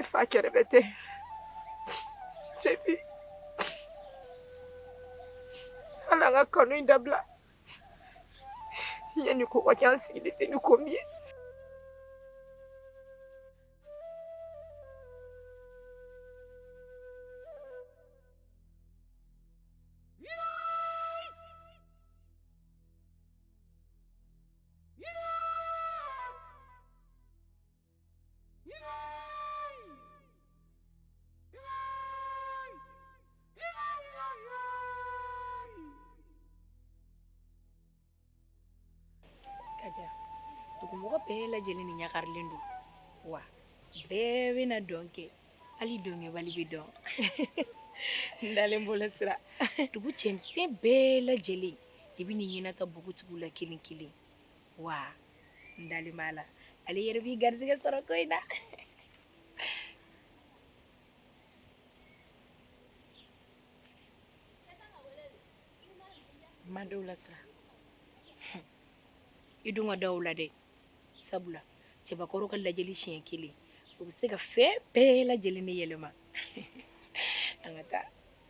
Efa kɛrɛbɛtɛ cɛbi hali an ka kanu in dabila yanni ko ka kɛ an sigilen tɛ ni ko min ye Mɔgɔ bɛɛ lajɛlen ni ɲagarilen don wa bɛɛ bɛna dɔn kɛ hali dɔnkɛbali bɛ dɔn n dalen b'o la Sira dugu cɛmisɛn bɛɛ lajɛlen de bɛn'i ɲɛnata npogotigiw la kelen kelen wa n dalen b'Ala la e yɛrɛ b'i garijɛgɛ sɔrɔ ko in na n ma da o la Sira i dun ka da o la dɛ sabula cɛbakɔrɔ ka lajɛli siɲɛ kelen o bɛ se ka fɛn bɛɛ lajɛlen ne yɛlɛma an ka taa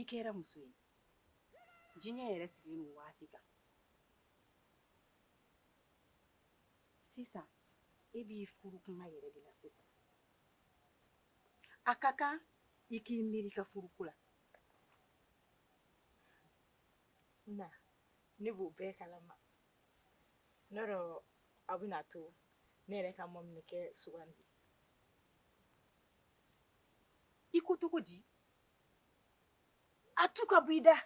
i kɛra muso ye diɲɛ yɛrɛ sigilen bɛ waati kan sisan e b'i furu tuma yɛrɛ de la sisan a ka kan i k'i miiri ka furuko la n na ne b'o bɛɛ kalama n'o don aw bɛna to ne yɛrɛ ka maminɛkɛ sugandi i ko cogo di a tu ka bɔ i da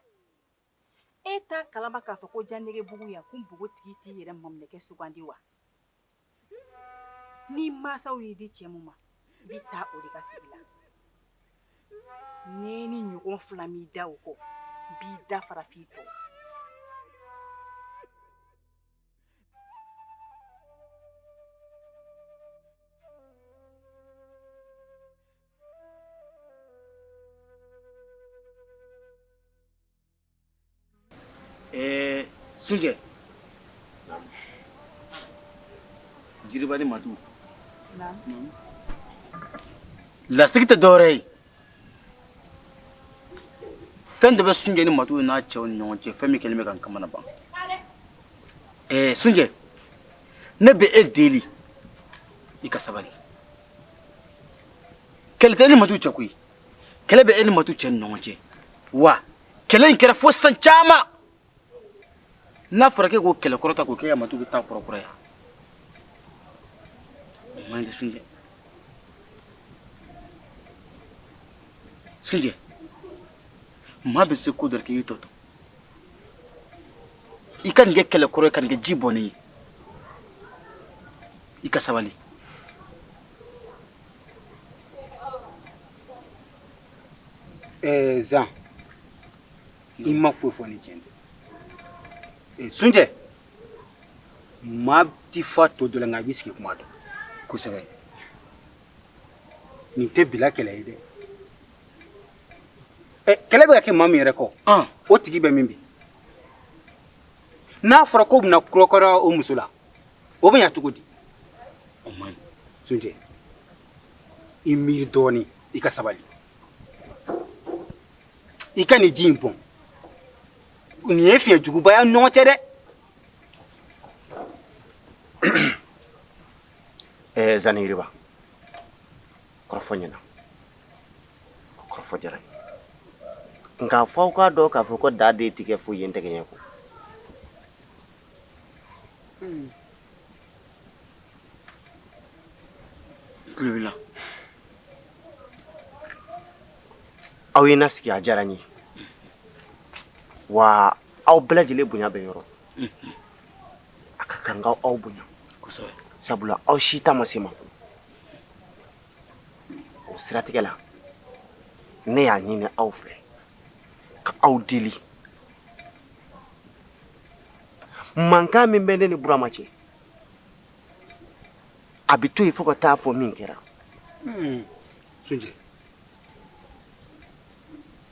e t'a kalama k'a fɔ ko Janɛgɛbugu yan ko npogotigi t'i yɛrɛ maminɛkɛ sugandi wa n'i mansaw y'i di cɛ min ma i bɛ taa o de ka sigi la ni n ye nin ɲɔgɔn fila mɛn i da o kɔ n b'i da fara f'i tɔn Eh, Sunjɛ. Naamu. Jiriba ni Matu. Naamu. Lasigi tɛ dɔwɛrɛ ye. Fɛn dɔ bɛ Sunjɛ ni Matu n'a cɛw ni ɲɔgɔn cɛ, fɛn min kɛlen bɛ ka n kamanagan. Eh, Sunjɛ, ne bɛ e deli i ka sabali. kɛlɛ tɛ e ni matu cɛ koyi kɛlɛ bɛ e ni matu cɛ ni ɲɔgɔn cɛ wa kɛlɛ in kɛra fo san caman n'a fɔra k'e k'o kɛlɛ kɔrɔ ta k'o kɛ ka matu bɛ taa kɔrɔkɔrɔ yan o man ɲi dɛ sunjɛ sunjɛ maa bɛ se ko dɔ la k'i y'i tɔ to i ka nin kɛ kɛlɛ kɔrɔ ye ka nin kɛ ji bɔnnen ye i ka sabali ɛɛ zan i ma foyi fɔ ni tiɲɛ tɛ ee sunjɛ maa ti fa to dɔ la nka i b'i sigi kuma dɔn kosɛbɛ nin tɛ bila kɛlɛ ye dɛ kɛlɛ bɛ ka kɛ maa min yɛrɛ kɔ o tigi bɛ min bi n'a fɔra k'o bɛna kɔrɔkɔrɔ o muso la o bɛ ɲa cogo di o man ɲi sunjɛ i miiri dɔɔnin i ka sabali i ka nin ji in bɔn nin ye fiɲɛ juguba y'a ɲɔgɔn cɛ dɛ ɛɛ zan ni yiriba kɔrɔfɔ ɲɛna diyara n ye nka fo aw k'a dɔn k'a fɔ ko da de ti kɛ foyi ye tɛgɛ ɲɛ la aw ye na sigi a diyara n ye wa aw bɛɛ lajɛlen bonya bɛ n yɔrɔ a ka kan ka aw bonya sabula aw si ta ma se ma o siratigɛ la ne y'a ɲini aw fɛ ka aw deli mankan min bɛ ne ni burama cɛ a bɛ to yen fo ka taa fɔ min kɛra hmm.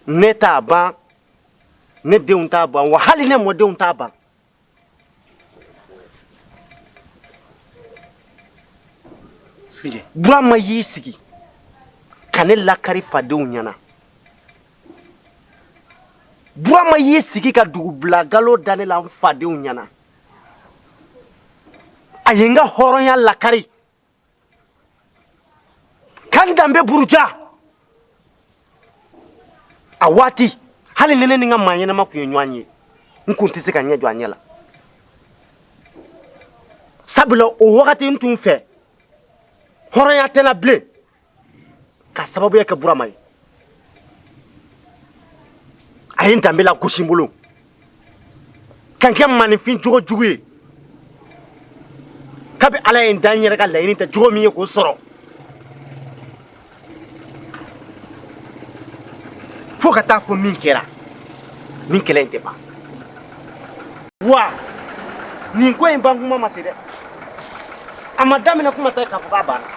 ne t'a ban ne denw t'a ban wa hali ne mɔdenw t'a ban Burama y'i sigi ka ne lakari fadenw ɲɛna Burama y'i sigi ka dugubila galo da ne la n fadenw ɲɛna a ye n ka hɔrɔnya lakari ka ne danbe buruja a waati hali ni ne ni n ka maa ɲɛnama tun ye ɲɔgɔn ye n kun tɛ se ka n ɲɛ jɔ a ɲɛ la sabula o wagati n tun fɛ hɔrɔnya tɛ n na bilen k'a sababuya kɛ burama ye a ye n danbe lagosi n bolo ka n kɛ maaninfin jogo jugu ye kabi ala ye n da n yɛrɛ ka laɲini tɛ jogo min ye k'o sɔrɔ fo ka taa fɔ min kɛra nin kɛlɛ in tɛ ban wa nin ko in ban kuma ma se dɛ a ma daminɛ kuma tɛ k'a fɔ k'a banna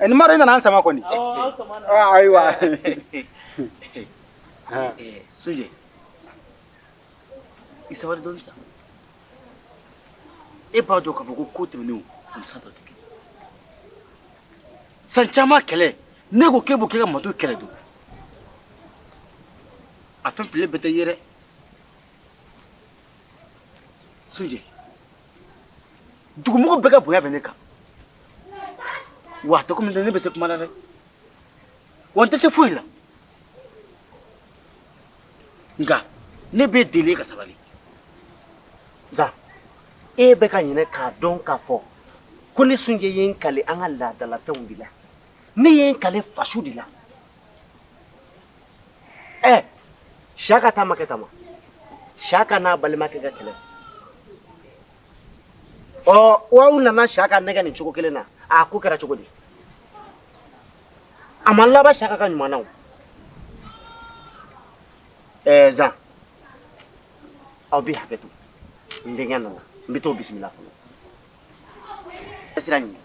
Eh, ni mara i nana n sama kɔni ah, ayiwa ah. eh, sunjɛ i sabari dɔɔni sa e b'a dɔn k'a fɔ ko ko tɛmɛnenw ani san taw tɛ kelen san caman kɛlɛ ne ko k'e b'o kɛ ka mato kɛlɛ don a fɛn fililen bɛɛ tɛ ye dɛ sunjɛ dugumɔgɔ bɛɛ ka bonya bɛ ne kan wa a tɛ komi ne bɛ se kuma la dɛ wa n tɛ se foyi la nka ne b'i deli i ka sabali zan e bɛ ka ɲinɛ k'a dɔn k'a fɔ ko ne sunjɛ ye n kali an ka laadalafɛnw de la ne ye n kali faso de la ɛ siyaka ta ma kɛ tan wa siyaka n'a balimakɛ ka kɛlɛ ɔ aw nana siyaka nɛgɛn nin cogo kelen na a ko kɛra cogo di a ma laban siyaka ka ɲuman na o ɛɛ zan aw bɛ hakɛ to n denkɛ nana n bɛ t'o bisimila fɔlɔ sira ɲini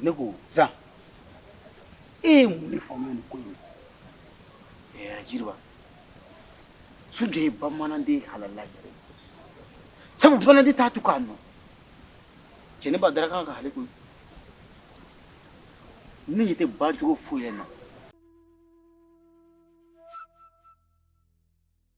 ne ko zan e ye mun de faamuya nin ko in na jiriba sunjɛ ye bamananden halala yɛrɛ sabu bamananden t'a tu k'a nɔn jɛnɛba darakan ka kali koyi ne ɲɛ tɛ bancogo foyi la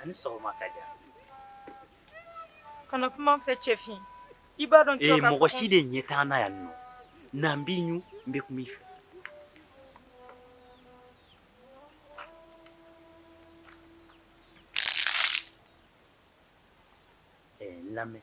a ni sɔgɔma kadiya kana kuma n fɛ cɛfin i b'a dɔn ee mɔgɔ si de ɲɛ t'an na yan nɔ n'an b'i ɲu n bɛ kuma i fɛ lamɛn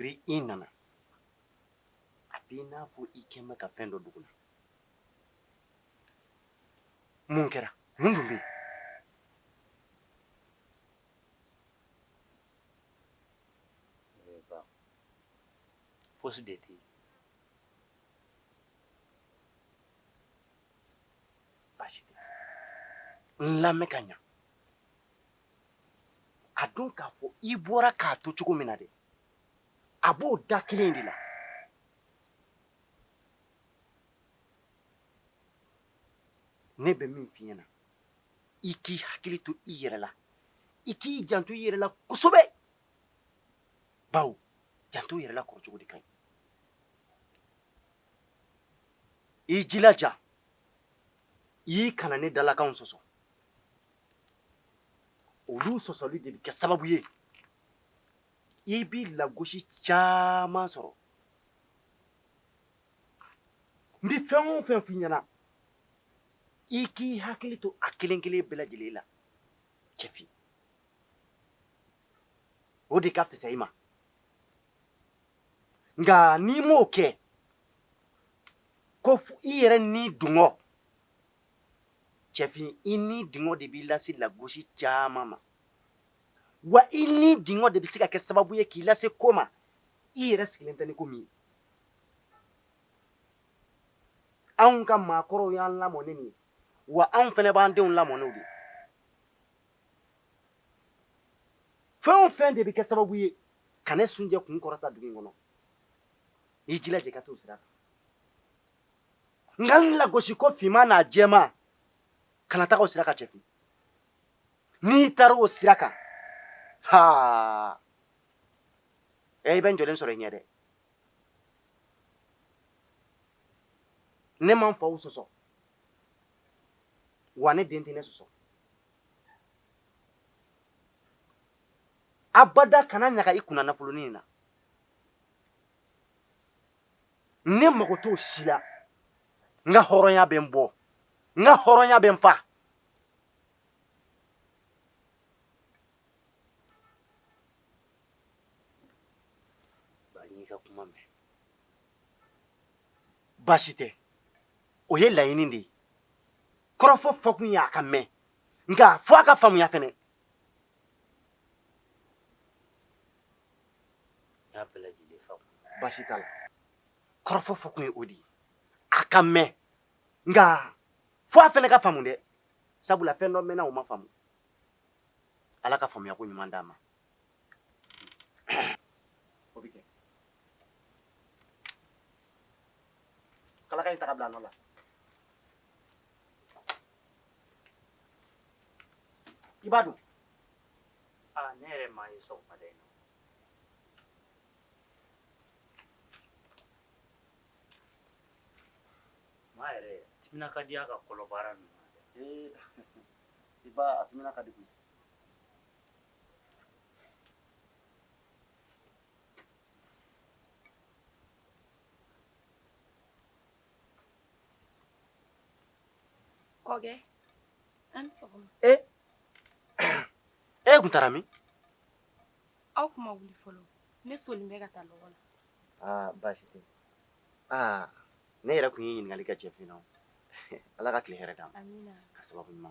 kabiri i nana a b'i n'a fɔ i kɛlen bɛ ka fɛn dɔ dogo n na mun kɛra mun dun bɛ yen fosi de tɛ yen baasi tɛ n lamɛn ka ɲa a don k'a fɔ i bɔra k'a to cogo min na dɛ a b'o da kelen de la ne bɛ min f'i ɲɛna i k'i hakili to i yɛrɛ la i k'i janto i yɛrɛ la kosɛbɛ bawo janto yɛrɛ la kɔrɔcogo de ka ɲi i jilaja i kana ne dalakanw sɔsɔ olu sɔsɔli de bɛ kɛ sababu ye i bɛ lagosi caman sɔrɔ n bɛ fɛn o fɛn f'i ɲɛna i k'i hakili to a kelen kelen bɛɛ lajɛlen na cɛfin o de ka fisa i ma nka n'i m'o kɛ ko i yɛrɛ nidungɔ cɛfin i nidungɔ de b'i lase lagosi caman ma wa i nidungɔ de bɛ se ka kɛ sababu ye k'i lase ko ma i yɛrɛ sigilen tɛ ni ko min ye anw ka maakɔrɔw y'an lamɔ ni nin ye wa anw fana b'an denw lamɔ n'o de fɛn o fɛn de bɛ kɛ sababu ye ka ne sunjɛ kun kɔrɔta dugu in kɔnɔ i jilaja ka t'o sira kan nka n lagosiko finman n'a jɛman kana taga o sira kan cɛfin n'i taara o sira kan haa ɛ i bɛ n jɔlen sɔrɔ i ɲɛ dɛ ne ma n faw sɔsɔ wa ne den tɛ ne sɔsɔ abada kana ɲaga i kunna nafolonin in na ne mago t'o si la n ka hɔrɔnya bɛ n bɔ n ka hɔrɔnya bɛ n fa baasi tɛ o ye laɲini de ye kɔrɔfɔ fɔkun ye a ka mɛn nka fo a ka faamuya fɛnɛ baasi t'a la kɔrɔfɔ fɔkun ye o de ye a ka mɛn nka fo a fɛnɛ ka faamu dɛ sabula fɛn dɔ mɛnna o ma faamu ala ka faamuyako ɲuman d'an ma O bɛ kɛ kalaka in ta ka bila a nɔ la i ba dun aa ne yɛrɛ m'a ye sɔgɔmada in na maa yɛrɛ timina ka di a ka kɔlɔbaara ninnu na dɛ Ee, i ba timina ka di koyi E tun taara min aw tun ma wuli fɔlɔ ne solila ka taa lɔgɔ la baasi tɛ ne yɛrɛ tun ye ɲininkali kɛ cɛfin na ala ka tile hɛrɛ d'an ma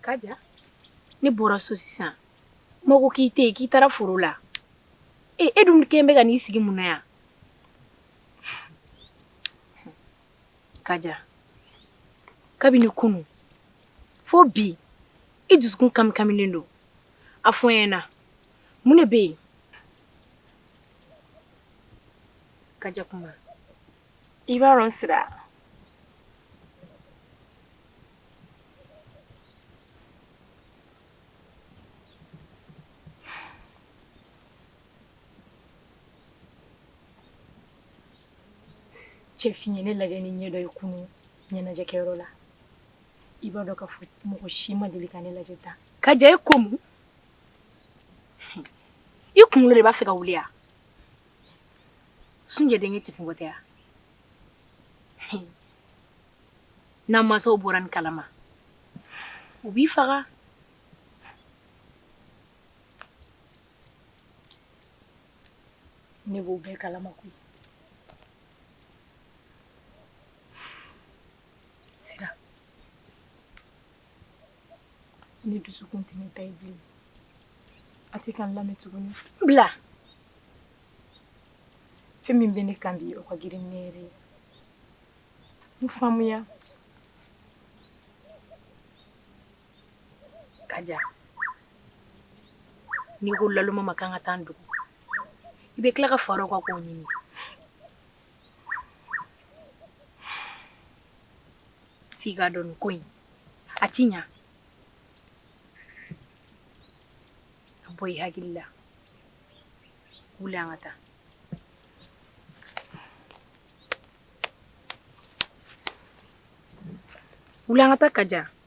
Kaja ne bɔra so sisan mɔgɔ k'i tɛ yen k'i taara foro la e e dun kelen bɛ ka n'i sigi mun na yan Kaja kabini kunun fo bi i dusukun kamikaminen don a fɔ n ɲɛna mun de bɛ yen kaja kuma i b'a dɔn sira cɛfin ye ne lajɛ ni ɲɛ dɔ ye kunu ɲɛnajɛkɛyɔrɔ la i b'a dɔn k'a fɔ mɔgɔ si ma deli ka ne lajɛ tan kaja e ko mun i kunkolo de b'a fɛ ka wuli ya sunjɛ denkɛ cɛfin ko tɛ ya n'an mansaw bɔra nin kalama u b'i faga ne b'o bɛɛ kalama koyi sira ne dusukun tɛ ne ta ye bilen a tɛ ka n lamɛn tuguni bila fɛn min bɛ ne kan bi o ka girin ne yɛrɛ ye n faamuya Kaja n'i ko laluma ma kan ka taa dugu i bɛ tila ka fara ka ko ɲini f'i ka dɔn ko in a t'i ɲɛ a bɔ i hakili la wuli an ka taa wuli an ka taa Kaja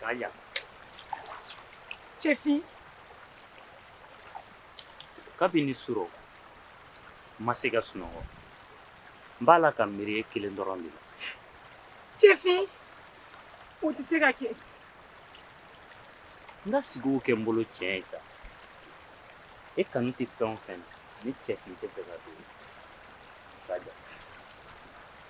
Kaja. Cɛfin kabini surɔ n ma se ka sunɔgɔ n b'a la ka miiri e kelen dɔrɔn de la cɛfin o tɛ se ka kɛ n ka sigiw kɛ n bolo tiɲɛ ye sa e kanu tɛ fɛn o fɛn na ni cɛfin tɛ f'i k'a dɔn Kaja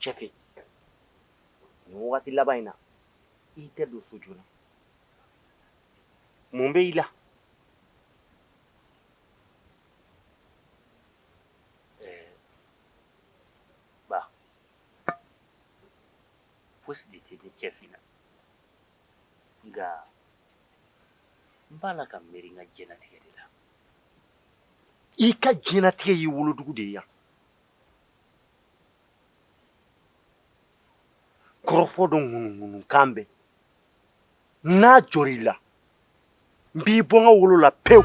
cɛfin waati laban in na i tɛ don so joona mun bɛ i la fosi de tɛ ne cɛfin na nka n b'a la ka miiri n ka diɲɛlatigɛ de la i ka diɲɛlatigɛ y'i wolodugu de ye yan kɔrɔfɔ dɔ ŋunuŋunukan bɛ n'a jɔra i la n b'i bɔ n ka wolo la pewu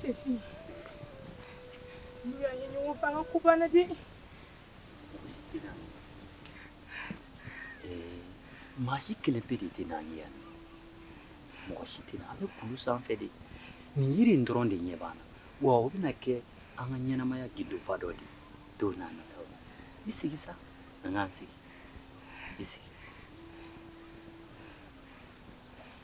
Cɛfin yan ye ɲɔgɔn fanga ko banna dɛ maa si kelen pe de tɛ n'an ye yan mɔgɔ si tɛ na an bɛ kulu sanfɛ de nin yiri in dɔrɔn de ɲɛ b'an na wa o bɛna kɛ an ka ɲɛnamaya gundoba dɔ de don n'a nataw la i sigi sa an k'an sigi i sigi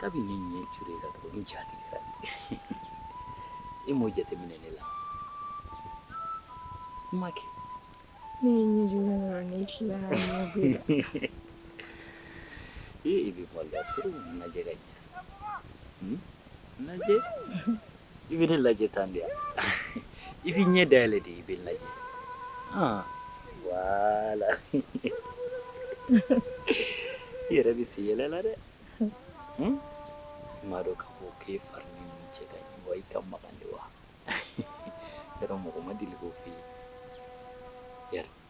kabi ne ɲɛ cure la dɔrɔn n ja tigɛra i m'o jateminɛ ne la n ma kɛ ne ye ɲɛ jɔ la ne fila ee i bɛ maloya trop n lajɛ ka ɲɛ sa lajɛ i bɛ ne lajɛ tan de i b'i ɲɛ dayɛlɛ de i bɛ n lajɛ wala i yɛrɛ bɛ se yɛlɛ la dɛ hmm? i m'a dɔn k'a fɔ k'e fari ni nin cɛ ka ɲi wa i ka magan de wa yɔrɔ mɔgɔ ma deli k'o f'i ye yɛrɛ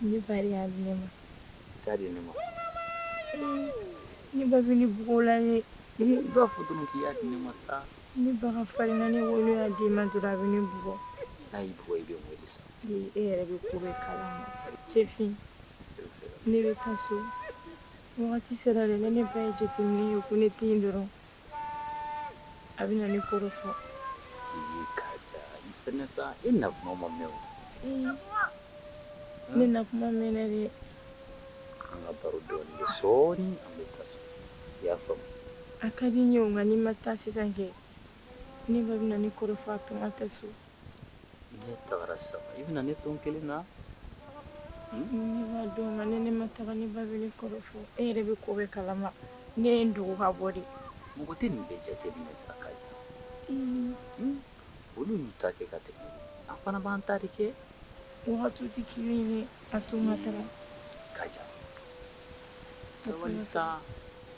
Ne ba de y'a di ne ma. I t'a di ne ma. Ne ba bɛ ne bugɔ la ye. I b'a fɔ dɔrɔn k'i y'a di ne ma sa. Ne ba ka farin na ne wolo y'a d'i ma dɔrɔn a bɛ ne bugɔ. N'a y'i bugɔ i bɛ n wele sa. Ee e yɛrɛ bɛ ko bɛɛ kalama. Cɛfin ne bɛ taa so. Wagati sera dɛ ni ne ba y'a jateminɛ ye ko ne tɛ yen dɔrɔn. a bɛ na ne kɔrɔfɔ sa i na kuma ma mɛn ne na kuma mɛn ne de an ka baro dɔɔni kɛ sɔɔni an bɛ taa so i y'a faamu a ka di n ye o nka ni n ma taa sisan kɛ ne ba bɛ na ne kɔrɔfɔ a to n ka taa so N'e taara saba i bɛna ne to n kelen na ne ni ne ma taa ne ba bɛ ne kɔrɔfɔ e yɛrɛ bɛ ko bɛɛ kalama ne ye dogo ka bɔ de mɔgɔ tɛ nin bɛɛ jateminɛ sa ka olu y'u ta kɛ ka tɛmɛ an fana b'an ta de kɛ wagati tɛ kelen ye a to n ka taa sabali sa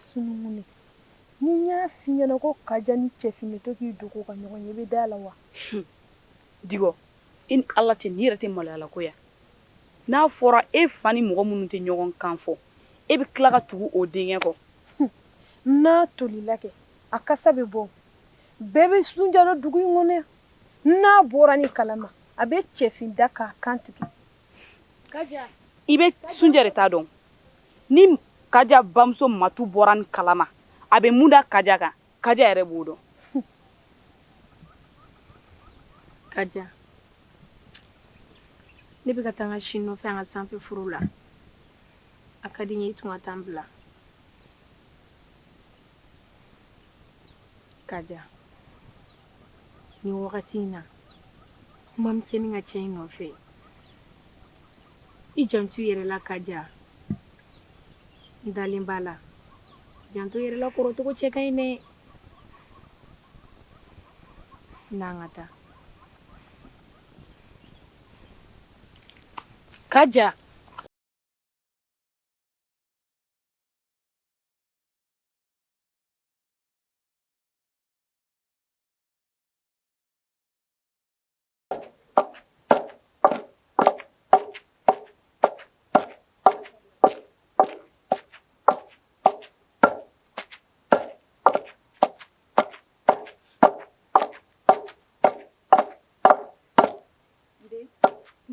sunungun ni n y'a f'i ɲɛ na ko kaja ni cɛfin bɛ to k'i dogo ka ɲɔgɔn ye i bɛ d'a la wa diɔ i ni ala tɛ nin yɛrɛ tɛ maloyala ko yan n'a fɔra e fa ni mɔgɔ minnu tɛ ɲɔgɔn kan fɔ e bɛ tila ka tugu o denkɛ kɔ n'a tolila kɛ a kasa bɛ bɔ bɛɛ bɛ sunjalo dugu in kɔnɔ n'a bɔra nin kalama a bɛ cɛfin da k'a kan tigɛ i bɛ sunjɛ de ta dɔn ni kaja bamuso matu bɔra nin kalama a bɛ mun da kaja kan kaja yɛrɛ b'o dɔn kaja ne bɛ ka taa n ka si nɔfɛ an ka sanfɛ foro la a ka di n ye i tun ka taa n bila kaja ni wagati in na kuma misɛnnin ka cɛ in nɔfɛ i janto i yɛrɛ la Kaja n dalen b'a la janto i yɛrɛ la kɔrɔcogo cɛ ka ɲi dɛ n'an ka taa Kaja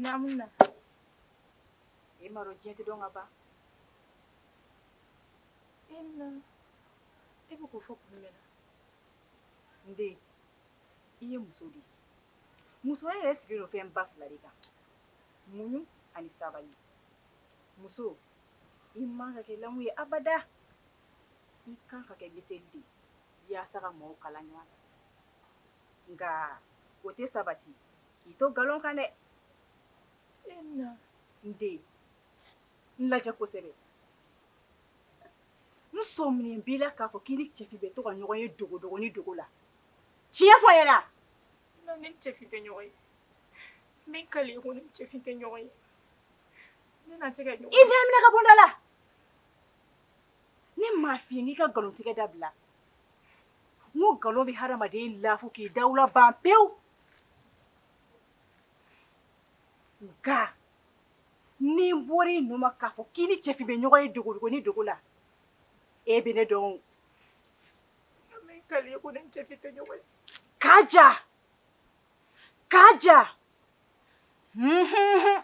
Naamu e ma diɲɛ tɛ dɔn ka ban e e bɛ k'o fɔ kun min na N den i ye muso de ye musoya yɛrɛ sigilen don fɛn ba fila de kan muɲu ani sabali muso i man ka kɛ lamu ye abada i kan ka kɛ miseli de ye walasa ka mɔgɔw kala ɲɔgɔn na nka o tɛ sabati k'i to nkalon kan dɛ e na n den n lajɛ kosɛbɛ N sɔminen b'i la k'a fɔ k'i ni Cɛfin bɛ to ka ɲɔgɔn ye dogodogo ni dogo la. Tiɲɛ fɔ n ɲɛna! Non ne ni Cɛfin tɛ ɲɔgɔn ye. N bɛ n kali ko ne ni Cɛfin tɛ ɲɔgɔn ye. Ne n'a tɛ ka ɲɔgɔn ye. I b'a minɛ ka bɔ n da la! Ne m'a f'i ye n k'i ka nkalontigɛ dabila? N ko nkalon bɛ hadamaden lafu k'i dawula ban pewu. Nka. ni n bɔra i nun ma k'a fɔ k'i ni Cɛfin bɛ ɲɔgɔn ye dogo-dogo ni dogo la, e bɛ ne dɔn o, nka min ka di i ye ko n ni Cɛfin tɛ ɲɔgɔn ye, Kaja! Kaja! Unhunhun!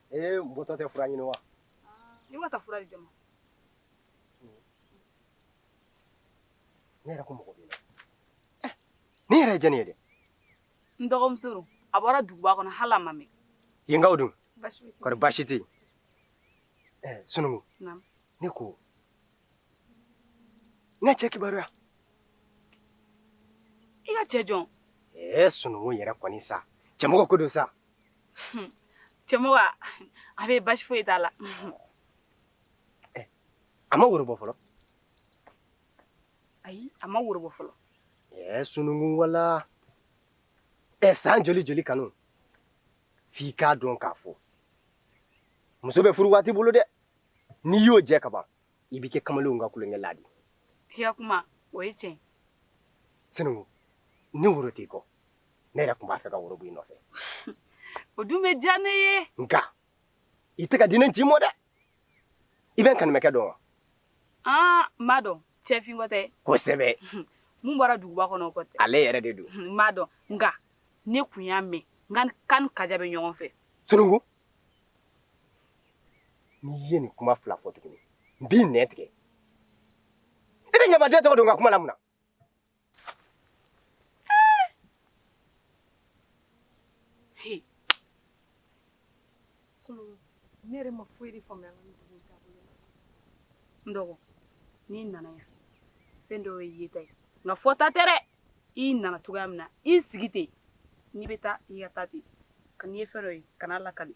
Ee n bɔtɔ tɛ fura ɲini wa i ma taa fura di jɔn ma ne yɛrɛ ko mɔgɔ b'i la Eh, ne yɛrɛ ye jɛni ye dɛ n dɔgɔmuso don a bɔra duguba kɔnɔ hali a ma mɛn yenkaw dun baasi tɛ kɔri baasi tɛ yen Eh, sunugu Naamu. ne ko n ka cɛ kibaruya i ka cɛ jɔn ee sunugu yɛrɛ kɔni sa Cɛmɔgɔ ko don sa cɛmɔgɔ a bɛ basi foyi t'a la a ma woro bɔ fɔlɔ ayi a ma woro bɔ fɔlɔ ɛɛ sununkun wala ɛɛ san joli joli kanu f'i k'a dɔn k'a fɔ muso bɛ furu waati bolo dɛ n'i y'o jɛ ka ban i bɛ kɛ kamalenw ka tulonkɛlan de. I ka kuma, o ye tiɲɛ. Sununkun, ni woro t'i kɔ, ne yɛrɛ tun b'a fɛ ka woro bɔ i nɔfɛ. O tun bɛ diya ne ye. Nka, i tɛ ka di ne ji mɔ dɛ. I bɛ n kanimɛkɛ dɔn wa? Aa, n b'a dɔn. Cɛfin ko tɛ? Kosɛbɛ. Min bɔra duguba kɔnɔ o ko tɛ? Ale yɛrɛ de don. N b'a dɔn. Nka, ne tun y'a mɛn, k'a ni Kaja bɛ ɲɔgɔn fɛ. Sununkun, N'i ye nin kuma fila fɔ tuguni n b'i nɛn tigɛ i bɛ ɲamaden tɔgɔ don n ka kuma la mun na ne yɛrɛ ma foyi de faamuya an ka dugu taabolo la n dɔgɔ n'i nana yan fɛn dɔ ye yeta ye nka fɔta tɛ dɛ i nana cogoya min na i sigi ten n'i bɛ taa i ka taa ten nka n'i ye fɛn dɔ ye kan'a lakali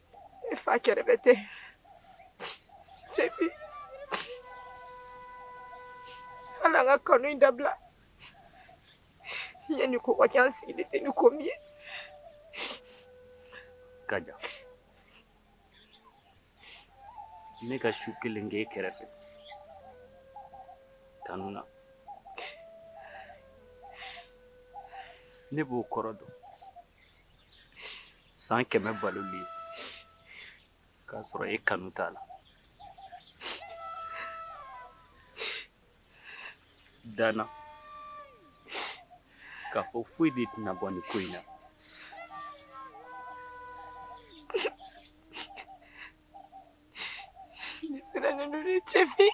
E fa kɛrɛbɛtɛ cɛ bi an ka kanu in dabila yanni ko ka kɛ an sigilen tɛ ni ko min ye Kaja ne ka su kelen kɛ e kɛrɛfɛ kanu na ne b'o kɔrɔ dɔn san kɛmɛ baloli k'a sɔrɔ e kanu t'a la da n na k'a fɔ foyi de tɛna bɔ nin ko in na sirannen don ni cɛfin